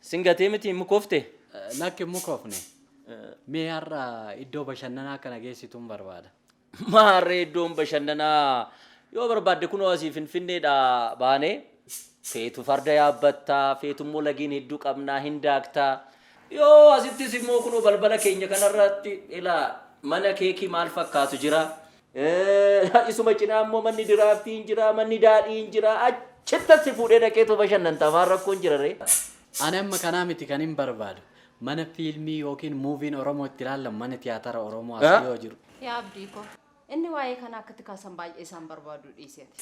Sin gatee miti hin mukofte? Lakki hin mukofne. Mee har'a iddoo bashannanaa akka na geessituun barbaada. Maa harree iddoon bashannanaa yoo barbaadde kunoo asii finfinneedha baanee feetu farda yaabbatta feetu immoo lageen hedduu qabnaa hin daakta yoo asittis immoo kunoo balbala keenya kanarratti ilaa mana keekii maal fakkaatu jira Isuma cinaa immoo manni diraaftii hin jiraa, manni daadhii hin jiraa, achittan si fuudhee dhaqeetoo bashannanta maal rakkoon jira ree? Ani amma kanaa miti kanin barbaadu. Mana fiilmii ykn muuviin Oromoo itti ilaallamu manni tiyaatara Oromoo as dhiyoo jiru. Yaa Abdii koo! Inni waa'ee kanaa akka itti kaasan baay'ee isaan barbaaduu dhiisi ati.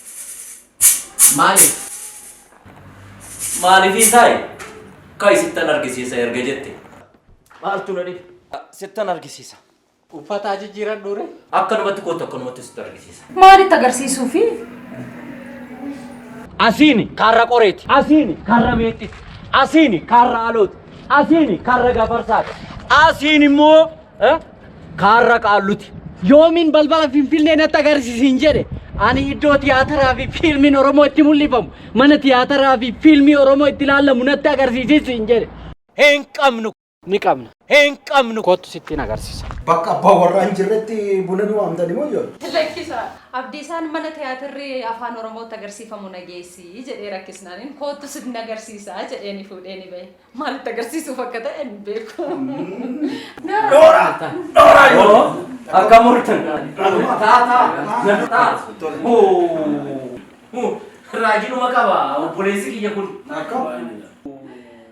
Maaliif? Maaliifii saayi? Ka'i sittan argisiisa erga jette. Maaltu na dhibe? Sittan argisiisa. Uffata haa jijjiiradhuu ree? Akkanumatti kootu akkanumatti sitti argisiisa. Maalitti agarsiisuu fi Asiini karra qoreeti. Asiini karra meexxiti. Asiini karra alooti. Asiini karra gafarsaati. Asiin immoo eh, karra qaalluti. Yoomiin balbala Finfinnee natti agarsiisin jedhe ani iddoo tiyaataraa fi fiilmiin Oromoo itti mul'ifamu mana tiyaataraa fi fiilmii Oromoo itti ilaalamu natti agarsiisin jedhe. Hin qabnu. Ni qabna. Hin qabnu. Kottu sittin agarsisa. Bakka abbaa warraa hin jirretti buna nu waamtani moo ijoollee? Lakkisaa! Abdiisaan mana tiyaatirri Afaan Oromootti agarsiifamu na geessi jedhee rakkisnaanin koottu sin agarsiisa jedheeni fuudheeni bahe. Maal itti agarsiisuuf akka ta'e hin beeku. Noora! Noora ijoollee! Akkam ooltan? Taa taa! Taa! Huu! Huu! Raajidhuma qaba obboleessi kiyya kun. Akkam?